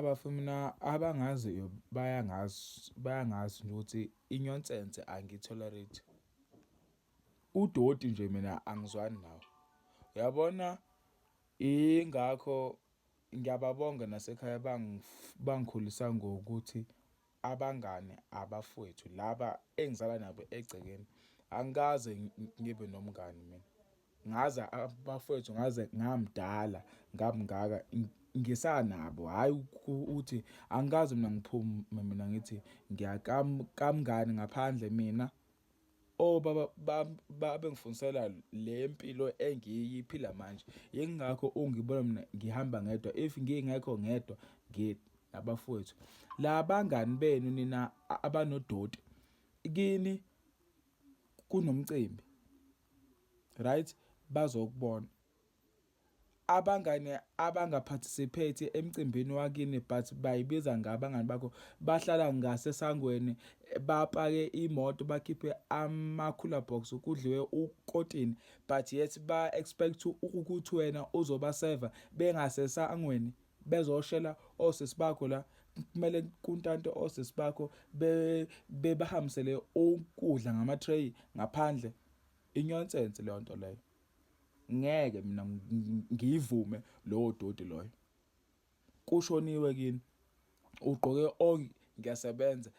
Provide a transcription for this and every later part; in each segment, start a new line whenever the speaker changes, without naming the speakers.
Bafo mina abangaziyo bayangazi, bayangazi nje ukuthi inyonsenshe angiyi-tolerate. Udoti nje mina angizwani nawo. Uyabona ingakho ngiyababonga nasekhaya bangikhulisanga ngokuthi. abangani abafowethu laba engizala nabo egcekeni angikaze ngibe nomngani mina ngaze abafowethu ngaze ngamdala ngamngaka ngisanabo hhayi ukuthi angikaze mina ngiphume mina ngithi ngiyakamngani ngaphandle mina Oh baba bam babe ngifundisela le mpilo engiyiphila manje yingakho ungibona mina ngihamba ngedwa if ngingekho ngedwa ngi nabafowethu labangani benu nina abanodoti kini kunomcimbi right bazokubona Abangani abanga participate emcimbini wakini but baybiza ngabangani bakho bahlala ngase sangweni bapake imoto bakhiphe ama cooler box kudliwe ukotini but yet ba expect ukuth wena uzoba serve bengase sangweni bezoshela osisi bakho la kumele kuntante osisi bakho bebahambisele ukudla ngama tray ngaphandle inyonsence leyonto leyo. ngeke mina ngiyivume lowo doti loyo kushoniwe kini ugqoke onke ngiyasebenza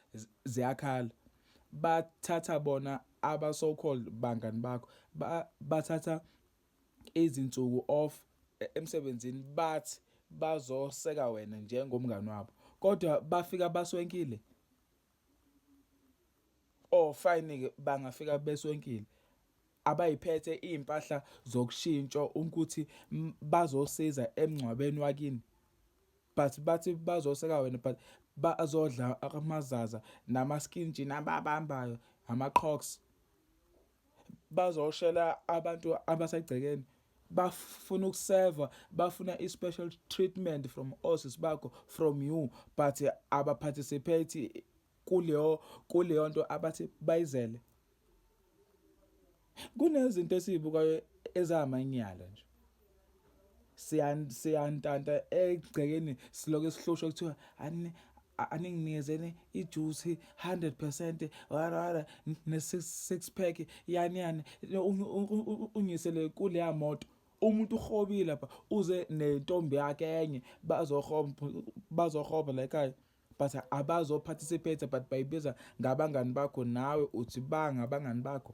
ziyakhala bathatha bona aba so called bangani bakho bathatha izinsuku off e, emsebenzini bathi bazoseka wena njengomngani wabo kodwa bafika baswenkile Oh fine ke bangafika besonkile. Abayiphethe izimpahla zokushintsha ukuthi bazosiza emngcwabeni wakini. But bathi bazoseka wena but bazodla amazaza nama skin jean ababambayo ama crocs. bazoshela abantu abasegcekeni bafuna ukuseva bafuna i-special treatment from osis bakho from you but abaparticipate kuleyo kuleyo nto abathi bayizele kunezinto esizibukayo ezamanyala nje siyantanta egcekeni siloke sihlushwa kuthiwa ani aninginikeze ijuice 100% wara ne six pack yani yani unyisele kule yamoto umuntu uhobile lapha uze nentombi yakhe enye bazohoba bazohoba la ekhaya but abazo participate but bayibiza ngabangani bakho nawe uthi banga abangani bakho